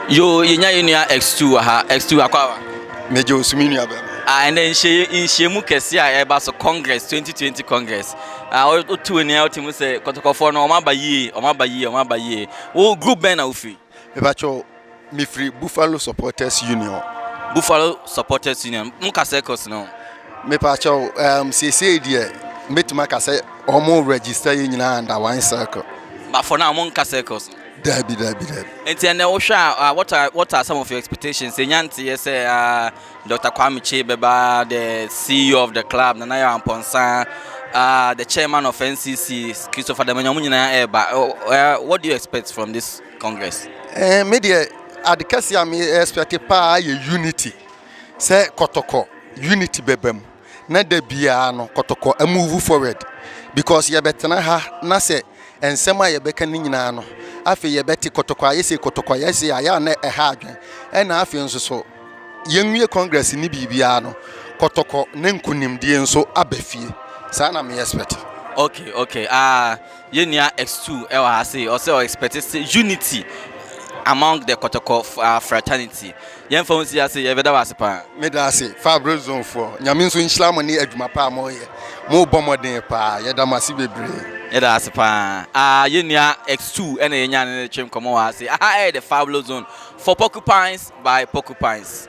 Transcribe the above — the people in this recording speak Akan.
Yo, yɛnya yɛ nua X2 wɔ ha. X2 akɔ awa. Megye wo so me nua bɛma. Ah, ɛnɛ nhyiamu kɛse a ɛba so Congress 2020 Congress. Ah, wotu w'ani a wote mu sɛ kɔtɔkɔfoɔ no wɔn aba yie, wɔn aba yie, wɔn aba yie. Wo group bɛn na wofiri? Mepakyɛw, Mefiri Buffalo Supporters Union. Buffalo Supporters Union, mo ka circles no ho. Mepaakyɛw, um, seesei deɛ mɛtumi aka sɛ wɔn register yɛ nyinaa under one circle. But for now, wɔn nka circles no. Dabi, dabi, dabi. Nti ɛnna wohwɛ a, uh, what are what are some of your expectations? Enya nteyɛ sɛ uh, Dr. Kwame Che bɛba, the CEO of the club, Nana Yaw Amponsah, uh, the chairman of NCC, Christopher Damanya, wɔn nyinaa ɛreba. Uh, what do you expect from this? congress. Ɛɛ me deɛ ade kɛse a me expect paa yɛ unity sɛ kɔtɔkɔ unity bɛba mu na da biara no kɔtɔkɔ move forward because yɛbɛtena ha na sɛ nsɛm a yɛbɛka ne nyinaa no afei yɛbɛte kɔtɔkɔ ayɛ sei kɔtɔkɔ ayɛ sei a yɛ a na ɛha adwen ɛna afei nso so yɛnwie congress ne biribiara no kɔtɔkɔ ne nkonimdie nso aba fie saa na me expect. okay okay ah. Yɛn nua X2 wɔ ha sei, ɔsɛ ɔ expect sɛ unity among the kɔtɔkɔ ah, fraternity. Yɛn fa ho si ase, yɛ bɛda wɔ ase paa. Meda ase Fabro zone foɔ. Nyame nso nhyira mo ne adwuma pa a moyɛ. Mo bɔ mmɔden paa. Yɛda mo ase bebree. Yɛda ase paa. Ah, yɛn nua X2 ɛna yɛnya ne ne twe nkɔmmɔ wɔ ha sei. Aha ɛyɛ the Fablo zone for porcupines by porcupines.